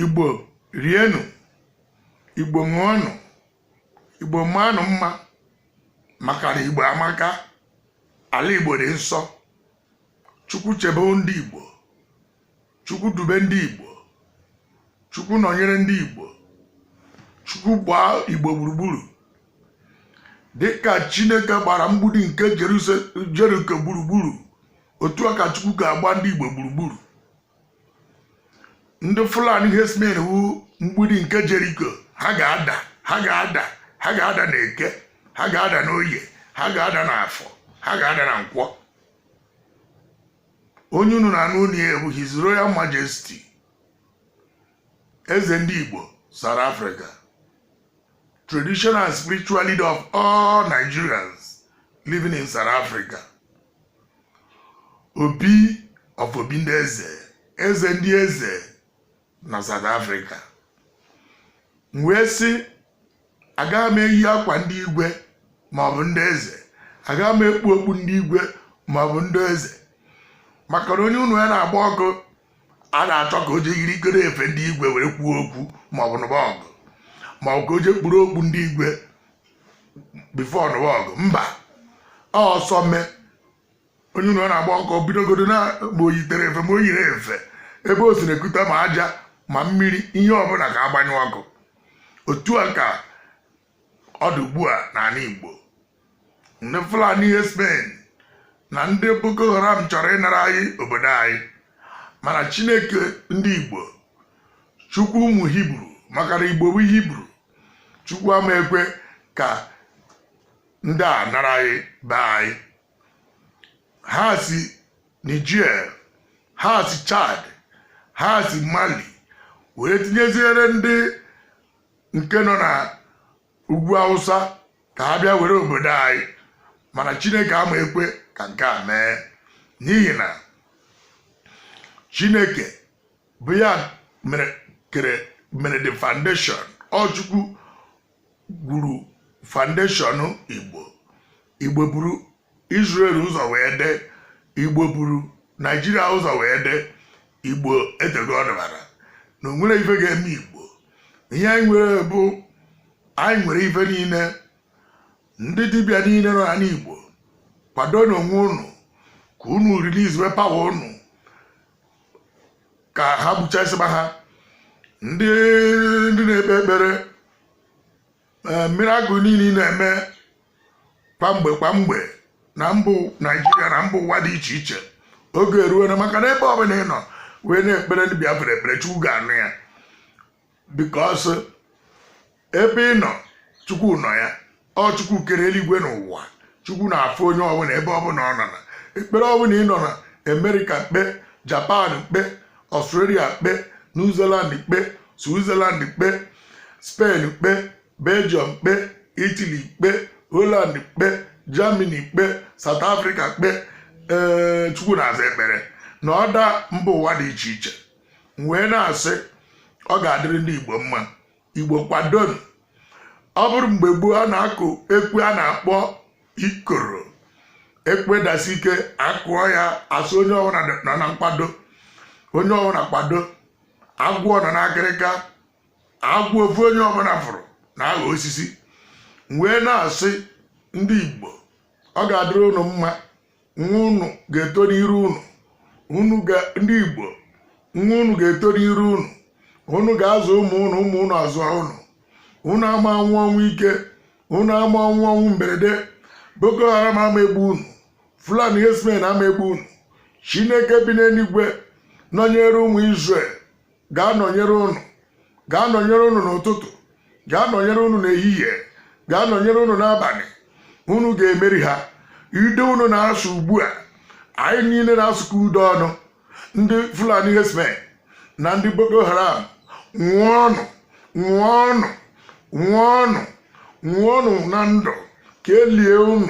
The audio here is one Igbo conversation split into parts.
igbo rienụ igbo ṅụọnụ igbo maanụ mma maka na igbo amaka ala igbo dị nsọ chukwu chebe ndị igbo chukwu dube ndị igbo chukwu nọnyere ndị igbo chukwu gbaa igbo gburugburu dịka chineke gbara mgbidi nke jeriko gburugburu otu a ka chukwu ga-agba ndị igbo gburugburu ndị fulani herdsmen bụ mgbidi nke jeriko ha ga-ada ha ga-ada ha ga-ada na eke ha ga-ada n'oye ha ga-ada na afọ ha ga-ada na nkwọ onye unu na-anụ onu ya bụ his royal majesty eze ndị Igbo South Africa traditional and spiritual leader of all Nigerians living in South Africa Obi of Obi ndị eze eze ndị eze na South Africa m wee sị agaghị m eyi akwa ndị igwe maọbụ ndị eze agaghị m ekpu okpu ndị igwe maọbụ ndị eze maka na onye ụnọ ya na-agba ọkụ ada achọ ka o jee yirikọrọ efe ndị igwe were kwuo okwu maọbụ nụba ọgụ maọbụ ka o jee kpuru okpu ndị igwe before nụba ọgụ mba ọsọ mee onye ụlọ na-agba ọkụ bidogodo na ma o yitere efe ma o yirọ efe ebe o si na-ekute ma aja ma mmiri ihe ọbụla ka a gbanyụọ ọkụ otu a ka ọ dị ugbu a n'ala Igbo ndị Fulani herdsmen na ndị Boko Haram chọrọ ịnara anyị obodo anyị mana Chineke ndị Igbo Chukwu ụmụ Hibru maka na Igbo bụ Hibru Chukwu ama ekwe ka ndị a nara anyị be anyị ha si Niger ha si Chad ha si Mali wee tinyeziere ndị nke nọ na ugwu Hausa ka ha bịa were obodo anyị mana Chineke ama ekwe ka nke a mee n'ihi na Chineke bụ ya mere the foundation ọ Chukwu gwuru foundation igbo igbo buru israel ụzọ wee dị igbo buru nigeria ụzọ wee dị igbo etego ọdịbara na o nwere ife ga-eme igbo ihe anyị nwere bụ anyị nwere ife niile ndị dibịa niile nọ n'ana igbo kwadonụ onwe unu ka unu release power unu ka ha gbuchasịba ha ndị na-ekpe ekpere ee, miracle niile ị na-eme kwa mgbe kwa mgbe na mbụ naijiria na mba ụwa dị iche iche oge eruona maka na ebe ọbụla ị nọ wee na-ekpere ndị biafra ekpere chukwu ga-anụ ya because ebe ị nọ chukwu nọ ya ọ chukwu kere eluigwe na ụwa chukwu na-afụ onye ọbụla ebe ọbụla ọ nọ na ekpere ọbụla ị nọ na america kpe japan kpe australia kpe new zealand kpe switzerland kpe spain kpe belgium kpe italy kpe holland kpe germany kpe south africa kpe ee chukwu na-aza ekpere na other mba ụwa dị iche iche m wee na-asị ọ ga-adịrị ndị igbo mma igbo kwadonụ ọ bụrụ mgbe gboo a na-akụ ekwe a na-akpọ ikoro ekwe dasi ike akụọ ya a sị onye ọbụla nọ na nkwado onye ọbụla kwado agwọ nọ n'akịrịka agwọ ofu onye ọbụla fụrụ na-aghọ osisi m wee na-asị ndị igbo ọ ga-adịrị unu mma nwa unu ga-eto n'iru unu unu ndị igbo nwa unu ga-eto n'iru unu unu ga-azụ ụmụ unu ụmụ unu azụọ unu unu ama anwụ ọnwụ ike unu ama anwụ ọnwụ mberede boko haram ama egbu unu fulani herdsmen ama egbu unu chineke bi n'eluigwe nọnyere ụmụ israel ga-anọnyere unu n'ụtụtụ ga-anọnyere unu n'ehihie ga-anọnyere unu n'abalị unu ga-emeri ha ude unu na-asụ ugbu a anyị niile na-asụkọ ude ọnụ ndị fulani herdsmen na ndị boko haram nwụọnụ nwụọnụ nwụọnụ nwụọnụ na ndụ ka e lie unu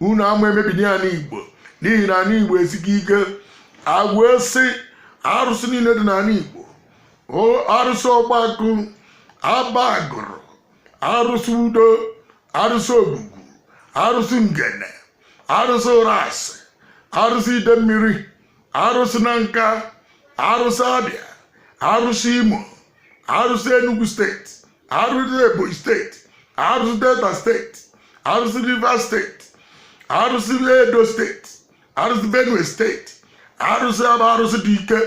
unu ama emebini anị igbo n'ihi na anị igbo esika ike e wee sị arụsị niile dị n'anị igbo arụsị ọgbakụ aba agụlụ arụsị udo arụsị ogwugwu arụsị ngene arụsị ụrasị arụsị idemmiri arụsị nanka arụsị abia arụsị imo arụsị enugu steeti arụsị ebonyi steeti arụsị delta steeti arụsị rivers steeti arụsị edo steeti arụsị benue steeti arụsị bụ arụsị dị ike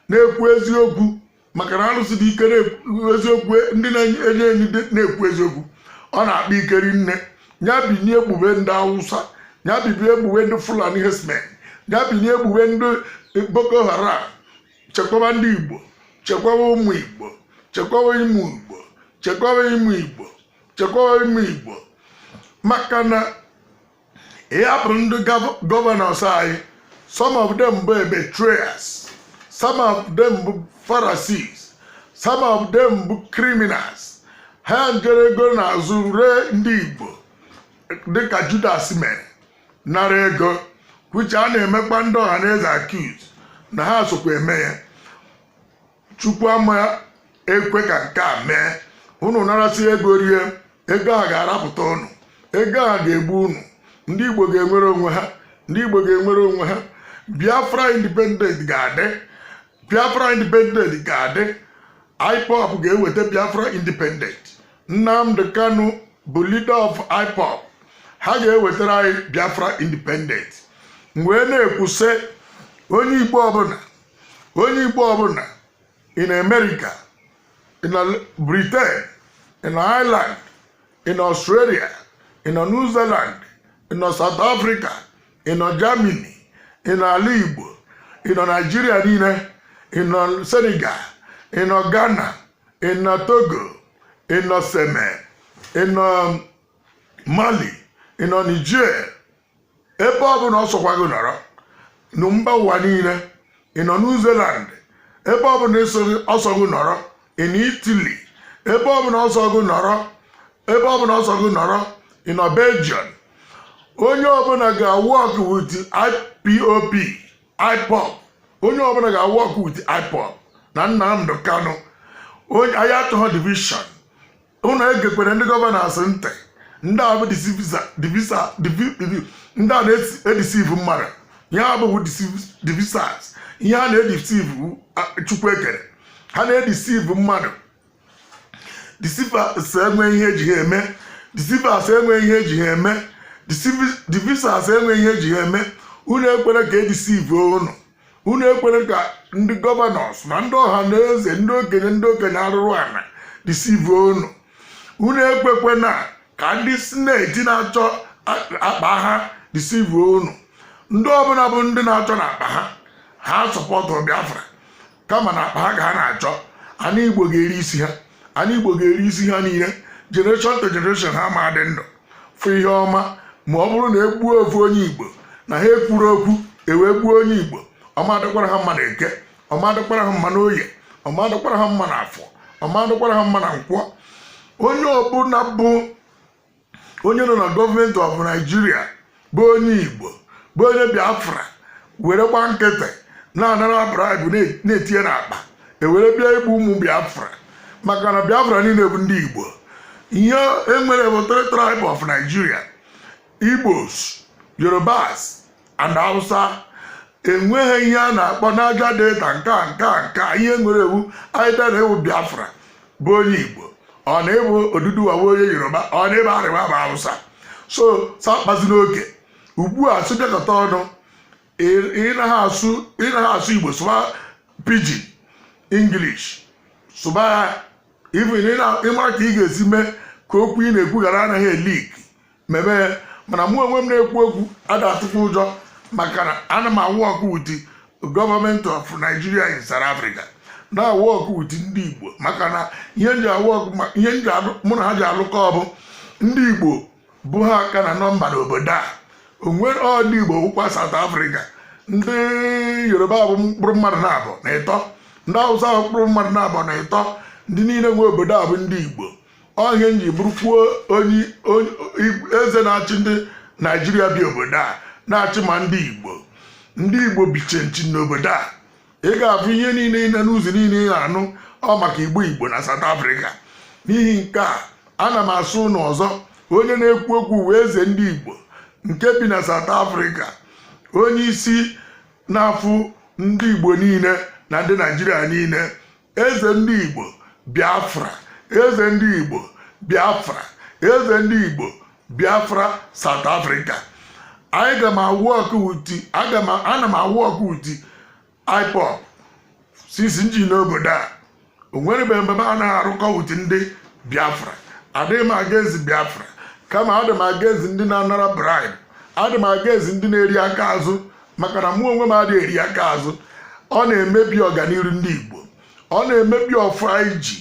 na-ekwu eziokwu maka na arụsị dị ike na-ekwu eziokwu ndị na-enye enyi dị- na-ekwu eziokwu ọ na-akpa ike rinne ya binie gbube ndị awụsa ya binie gbube ndị fulani herdsmen ya binie gbube ndị boko haram chekwaba ndị igbo chekwaba ụmụ igbo chekwaba ime igbo chekwaba ime igbo chekwaba ime igbo maka na ịhapụ ndị gov- gọvanọs anyị some of them bụ betrayers some of them bụ pharisees some of them bụ criminals ha njere ego n'azụ ree ndị igbo dịka judas mere nara ego which a na-emekwa ndị ọha na eze accuse na ha sokwa eme ya chukwu ama ekwe ka nke a mee unu narasị ego rie ego a ga-arapụta unu ego a ga-egbu unu ndị igbo ga-enwere onwe ha ndị igbo ga-enwere onwe ha biafra independent ga-adị biafra independent ga-adị ipob ga-eweta biafra independent nnamdi kanu bụ leader of ipob ha ga-ewetara anyị biafra independent m wee na-ekwu sị onye igbo ọbụla onye igbo ọbụla ị nọ america ị nọ britain ị nọ ireland ị nọ australia ị nọ new zealand ị nọ south africa ị nọ Germany ị nọ ala Igbo ị nọ Naịjirịa niile ị nọ Senegal ị nọ Ghana ị nọ Togo ị nọ Seme ị nọ Mali ị nọ Niger ebe ọ bụla ọ sọkwa gị nọrọ na mba ụwa niile ị nọ New Zealand ebe ọ bụla ọ sọ gị nọrọ ị nọ Italy ebe ọbụla ọ sọ gị nọrọ ebe ọbụla ọ sọ gị nọrọ ị nọ Belgium onye ọbụla ga-work with IPOB IPOB onye ọbụla ga-work with IPOB na Nnamdi Kanu onye anyị achọghị division unu egekwere ndị gọvanọs ntị ndị a bụ ndị a na-edeceive mmadụ ihe ha bụ devisers ihe a na-edeceive chukwu ekere ha na-edeceive mmadụ deceivers enwe ihe eji ha eme deceivers enwe ihe eji ha eme devisers enwe ihe eji ha eme unu ekwere ka e deceive unu unu ekwere ka ndị gọvanọs na ndị ọha na eze ndị okenye ndị okenye arụrụ ana deceive unu unu ekwekwena ka ndị sineti na-achọ akpa ha deceive unu ndị ọbụla bụ ndị na-achọ na akpa ha ha sọpọtụ biafra kama na akpa ha ka ha na-achọ ana igbo ga-eri isi ha ana igbo ga-eri isi ha niile generation to generation ha ama adị ndụ fụ ihe ọma ma ọ bụrụ na e gbuo ofu onye igbo na ha ekwuro okwu e wee gbuo onye igbo ọ ma adịkwara ha mma na eke ọ ma adịkwara ha mma na oye ọ ma adịkwara ha mma na afọ ọ ma adịkwara ha mma na nkwọ onye ọbụla bụ onye nọ na gọọmenti of Nigeria bụ onye igbo bụ onye biafra were gba nkịtị na-anara bribe na-etinye n'akpa ewere bịa igbu ụmụ biafra maka na biafra niile bụ ndị igbo ihe enwere bụ three tribe of nigeria igbos yorubas and hausa enweghị ihe a na-akpọ naija delta nke a nke a nke a ihe nwere wụ either na ị wụ biafra bụ onye igbo or na ị bụ oduduwa bụ onye yoruba or na ị bụ arewa bụ hausa so sị akpazina oke ugbu a sị bịakọta ọnụ ị naghị asụ igbo sụba pidgin english sụba ya even ịmara ka ị ga-esi mee ka okwu ị na-ekwu ghara anaghị elik mebe ya mana mụ onwe m na-ekwu okwu ada atụkwa ụjọ maka na ana m awork with government of Nigeria in South Africa na-awork with ndị Igbo maka na ihe nji awork ma ihe nji alụ mụ na ha ji alụkọ ọ bụ ndị Igbo bụ ha ka na nọmba n'obodo a o nwere ọ ndị Igbo wụkwa South Africa ndị Yoruba bụ mkpụrụ mmadụ naabọ na ịtọ ndị Hausa bụ mkpụrụ mmadụ naabọ na ịtọ ndị niile nwe obodo a bụ ndị Igbo ọ ihe nji bụrụkwuo onye eze na-achị ndị naijiria bi obodo a na-achị ma ndị igbo ndị igbo biche nchi n'obodo a ị ga-afụ ihe niile ị na news niile ị na-anụ ọ maka igbo igbo na South Africa n'ihi nke a ana m asị ụnụ ọzọ onye na-ekwu okwu wụ eze ndị igbo nke bi na South Africa onye isi na-afụ ndị igbo niile na ndị naijiria niile eze ndị igbo biafra eze ndị igbo biafra eze ndị igbo biafra south africa aga m awork with aga m ana m awork with ipob since nji nọ obodo a o nwerebeghị mgbe m anaghị arụkọ with ndị biafra adịghị m against biafra kama adị m against ndị na-anara bribe adị m against ndị na-eri aka azụ maka na mụ onwe m adịghị eri aka azụ ọ na-emebi ọganiru ndị Igbo ọ na-emebi ọfọ anyị ji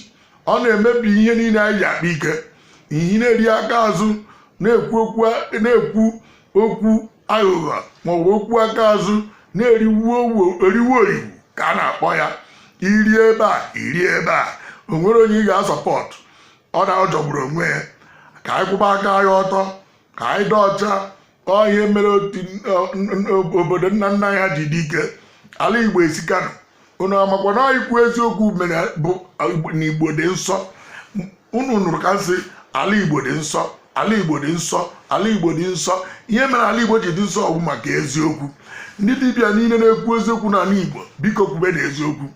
ọ na-emebi ihe niile anyị ji akpa ike ihe na-eri aka azụ na-ekwu okwu aghụghọ maọbụ okwu aka azụ na-eriwu eriwu oriwu ka a na-akpọ ya iri ebe a iri ebe a o nwere onye ị ga-asupport ọ na-ajọgburu onwe ya ka anyị kwụba aka anyị ọtọ ka anyị dị ọcha ka ọ ihe mere otu obodo nna nna anyị ji dị ike ala igbo esikanụ unu amakwa na ikwu eziokwu mere bụ na igbo dị nsọ unu nụrụ ka nsị ala igbo dị nsọ ala igbo dị nsọ ala igbo dị nsọ ihe mere ala igbo ji dị nsọ ọ bụ maka eziokwu ndị dibịa niile na-ekwu eziokwu n'ala igbo biko kwubenụ eziokwu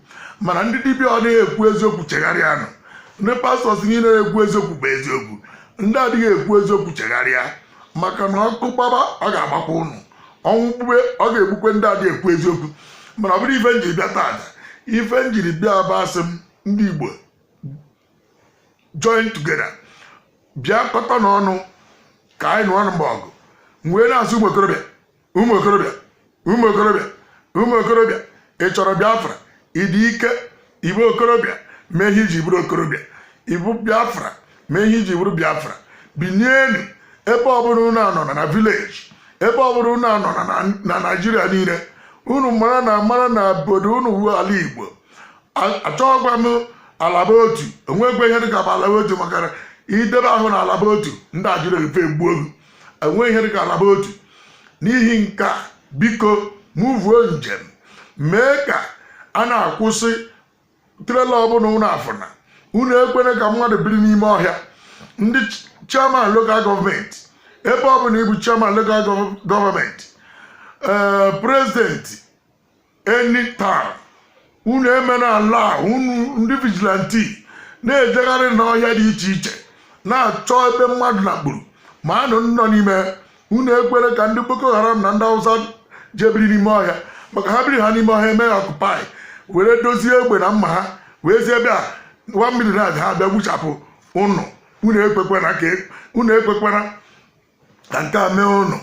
mana ndị dibịa adịghị ekwu eziokwu chegharịanụ ndị pastors niile na-ekwu eziokwu bụ eziokwu ndị adịghị ekwu eziokwu chegharịa maka na ọkụ gbaba ọ ga-agbakwa ụnụ ọnwụ gbube ọ ga-egbukwe ndị adị ekwu eziokwu mana ọ bụrọ ife m jiri bịa taata ife m jiri bịa bụ asị m ndị igbo join together bịakọtanụ ọnụ ka anyị nụọ ọnụ mgbe ọgụ m wee na-asị ụmụ okorobịa ụmụ okorobịa ụmụ okorobịa ụmụ okorobịa ị chọrọ biafra ị dị ike ị bụ okorobịa mee ihe i ji bụrụ okorobịa ị bụ biafra mee ihe i ji bụrụ biafra binienu ebe ọbụla unu anọ na village ebe ọbụla unu anọ na naijiria niile unu mara na mara na obodo unu wu ala igbo achọghịkwa m alaba otu o nwekwa ihe dịka alaba otu maka na ị dị ebe ahụ na alaba otu ndị a ejiri ife gbuo gị enweghị ihe dịka alaba otu n'ihi nke a biko muvuo njem mee ka a na-akwụsị trailer ọbụla unu afụna unu ekwere ka mmadụ biri n'ime ọhịa ndị chairman local government ebe ọbụla ị bụ chairman local government ee president anytime unu emee n'ala unu ndị vigilante na-ejegharị n'ọhịa dị iche iche na-achọ ebe mmadụ makpuru ma anụ nọ n'ime unu ekwere ka ndị boko haram na ndị hausa je biri n'ime ọhịa maka na ha biri ha n'ime ọhịa eme occupy were dozie egbe na mma ha wezie bịa one million ha bịa gbuchapụ unu unu ekwekwana ka e, unu ekwekwana ka nke a mee unu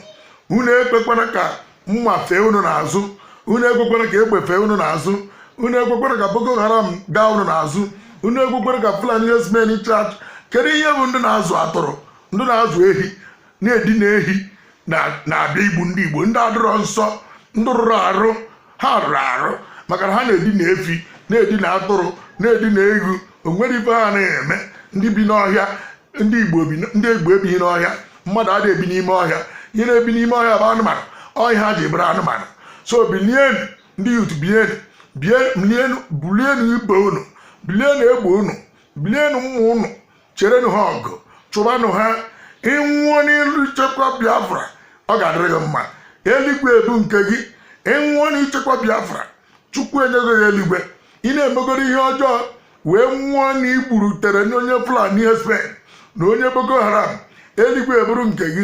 unu ekwekwara ka mma fee unu n'azụ unu ekwekwara ka egbe fee unu n'azụ unu ekwekwara ka boko haram gaa unu n'azụ unu ekwekwara ka fulani herdsmen charge kedu ihe bụ ndị na-azụ atụrụ ndị na-azụ ehi na-edina ehi na- na-abịa igbu ndị igbo ndị adịrọ nsọ ndị rụrụ arụ ha rụrụ arụ maka na ha na-edina efi na-edina atụrụ na-edina ewu o nwere ife ha na-eme ndị bi n'ọhịa ndị igbo ebighị n'ọhịa mmadụ ada ebi n'ime ọhịa ihe na-ebi n'ime ọhịa bụ anụmanụ ọ ihe ha ji bụrụ anụmanụ so bilienu ndị youth bilienu bilienu bulienu ibe unu bulienu egbe unu bulienu mma unu cherenụ ha ọgụ chụbanụ ha ị nwụọ n'ilu ichekwa biafra ọ ga-adịrị gị mma eluigwe bụ nke gị ị nwụọ n'ichekwa biafra chukwu enyego gị eluigwe ị na-emegoro ihe ọjọọ wee nwụọ na i gburu terror na onye fulani herdsmen na onye boko haram eluigwe abụrụ nke gị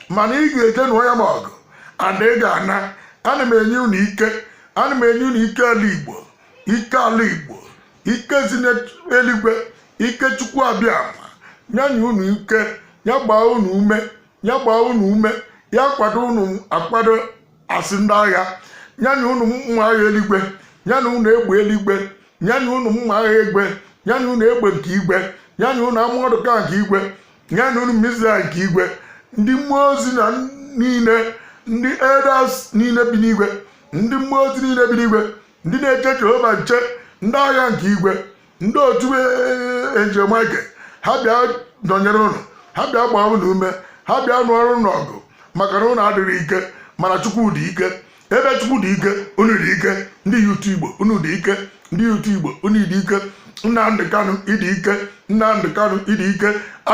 mana ị ga-eje nụọ ya bụ ọgụ and ị ga-ana ana m enye unu ike ana m enye unu ike ala igbo ike ala igbo ike si n'eluigwe ike chukwu abịama ya nye unu ike ya gbaa unu ume ya gbaa unu ume ya kwado unu akwado as ndị agha ya nye unu mma agha eluigwe ya nye unu egbe eluigwe ya nye unu mma agha igwe ya nye unu egbe nke igwe ya nye unu armoured car nke igwe ya nye unu missile nke igwe ndị mmụọ ozi na niile ndị elders niile bi n'igwe ndị mmụọ ozi niile bi n'igwe ndị na-eche jehova nche ndị agha nke igwe ndị otu angel michael ha bịa nọnyere ụnụ ha bịa gbaa ụnụ ume ha bịa nụọrọ ụnụ ọgụ maka na ụnụ adịghị ike mana chukwu dị ike ebe chukwu dị ike unu dị ike ndị youth igbo unu dị ike ndị youth igbo unu dị ike nnamdị kanụ ị dị ike nnamdị kanụ ị dị ike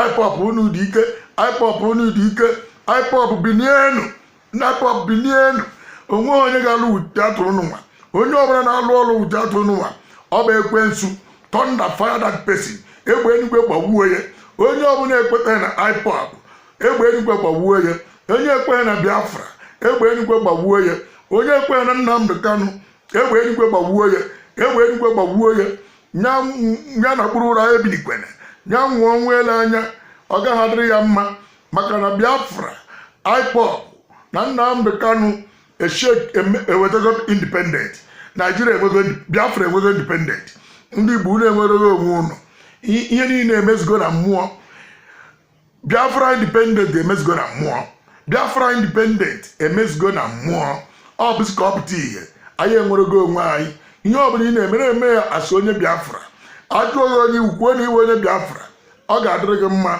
ipob unu dị ike ipob unu dị ike ipob binienu ipob bilienu o nweghị onye ga-alụ wute atụrụ n'ụwa onye ọbụla na-alụ ọlụ wute atụrụ n'ụwa ọ bụ ekwensu thunder fire that person egbe enugwe gbagbuo ya onye ọbụla ekwetaghị na ipob egbe enugwe gbagbuo ya onye ekweghị na biafra egbe enugwe gbagbuo ya onye ekweghị na nnamdị kanụ egbe enugwe gbagbuo ya egbe enugwe gbagbuo ya ya nakpuru ụra ebilikwene ya nwụọ ọnwụ ele anya ọ gaghị adịrị ya mma maka na biafra ipob na nnamdị kanu ewetago independent naijiria enwego biafra enwego independent ndị igbo unu enwerego onwe ụnụ ihe niile emezigo na mmụọ biafra independent emezigo na mmụọ biafra independent emezigo na mmụọ ọ bụzi ka ọ pụta ihe anyị enwerego onwe anyị ihe ọ bụla ị na-eme na-eme ya as onye biafra a jụọ gị onye ị wụ kwuo na ị wụ onye biafra ọ ga-adịrị gị mma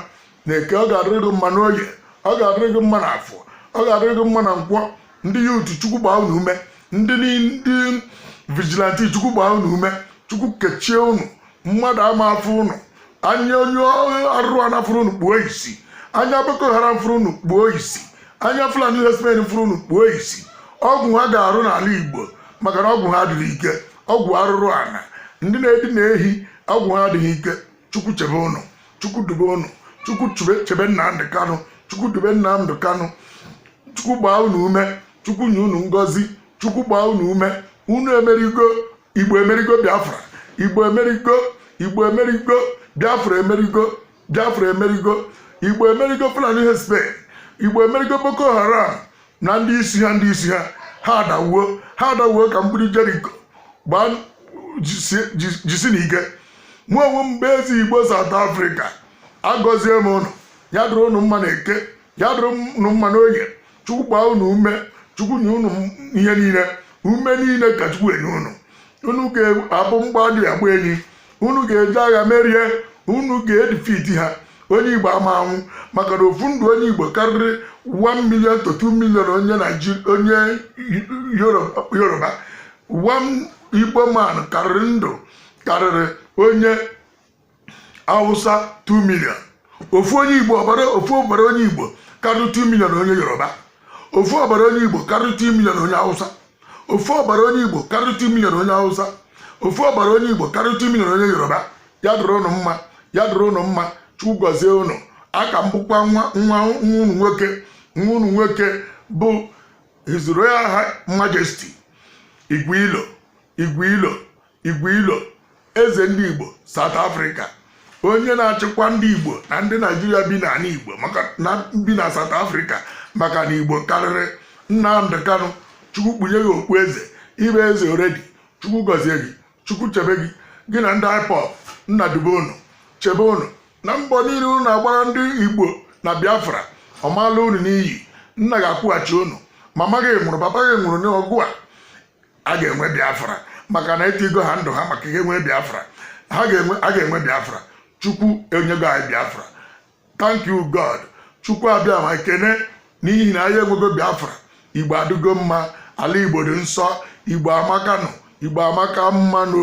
na eke ọ ga-adịrị gị mma n'oye ọ ga-adịrị gị mma n'afọ ọ ga-adịrị gị mma na nkwọ ndị youth chukwu gbaa unu ume ndị ni- ndị vigilante chukwu gbaa unu ume chukwu kechie unu mmadụ ama afụ unu anya onye arụrụ ana fụrụ unu kpuo isi anya boko haram fụrụ unu kpuo isi anya fulani herdsmen fụrụ unu kpuo isi ọgwụ ha ga-arụ n'ala igbo maka na ọgwụ ha adịghị ike ọgwụ arụrụ ana ndị na-edina ehi ọgwụ ha adịghị ike chukwu chebe ụnụ chukwu dube ụnụ chukwu chebe nnamdị kanụ chukwu dube nnamdị kanụ chukwu gbaa unu ume chukwu nye unu ngọzi chukwu gbaa unu ume unu emerigo igbo emerigo biafra igbo emerigo igbo emerigo biafra emerigo biafra emerigo igbo emerigo fulani herdsmen igbo emerigo boko haram na ndị isi ha ndị isi ha ha adawuo ha adawuo ka mgbidi jeriko gbaa jisi- ji- jisi na ike mụ onwe m bụ eze igbo South Africa agọzie m ụnụ ya dịrị ụnụ mma na eke ya dịrị ụnụ mma na oye chukwu gbaa ụnụ ume chukwu nye ụnụ ihe niile ume niile ka chukwu enye ụnụ unu ga-abụ mgba dị agba enyi unu ga-eje agha merie unu ga-edifiti ha onye igbo ama anwụ maka na ofu ndụ onye igbo karịrị 1 million to 2 million onye Naịjirịa onye yoruba one igbo man karịrị ndụ karịrị onye awụsa 2 million ofu onye igbo ofu ọbara onye igbo karịrị 2 million onye yoruba ofu ọbara onye igbo karịrị 2 million onye hausa ofu ọbara onye igbo karịrị 2 million onye hausa ofu ọbara onye igbo karịrị 2 million onye yoruba ya dịrị ụnụ mma ya dịrị ụnụ mma chukwu gọzie ụnụ a ka m bụkwa nwa nwa unu nwoke bụ his royal High majesty igwe ilo igwe ilo Igwe Ilo eze ndị Igbo South Africa onye na-achịkwa ndị Igbo na ndị Naijiria bi n'ala Igbo bi na South Africa maka na Igbo karịrị Nnamdị Kanụ Chukwu kpunye gị okpu eze ị bụ eze already Chukwu gọzie gị Chukwu chebe gị gị na ndị IPOB nna dube unu chebe unu na mbọ niile unu na-agbara ndị Igbo na Biafra ọ ma-ala unu n'iyi nna ga-akwụghachi unu mama gị nwụrụ papa gị nwụrụ n'ọgụ a a ga-enwe biafra maka na etiigo ha ndụ ha maka ihe nwee biafra a ga-enwe biafra chukwu enyego anyị biafra thank you god chukwu abịa m ekene n'ihi na anyị enwego biafra igbo adịgo mma ala igbo dị nsọ igbo amaka nụ igbo amaka mma nụ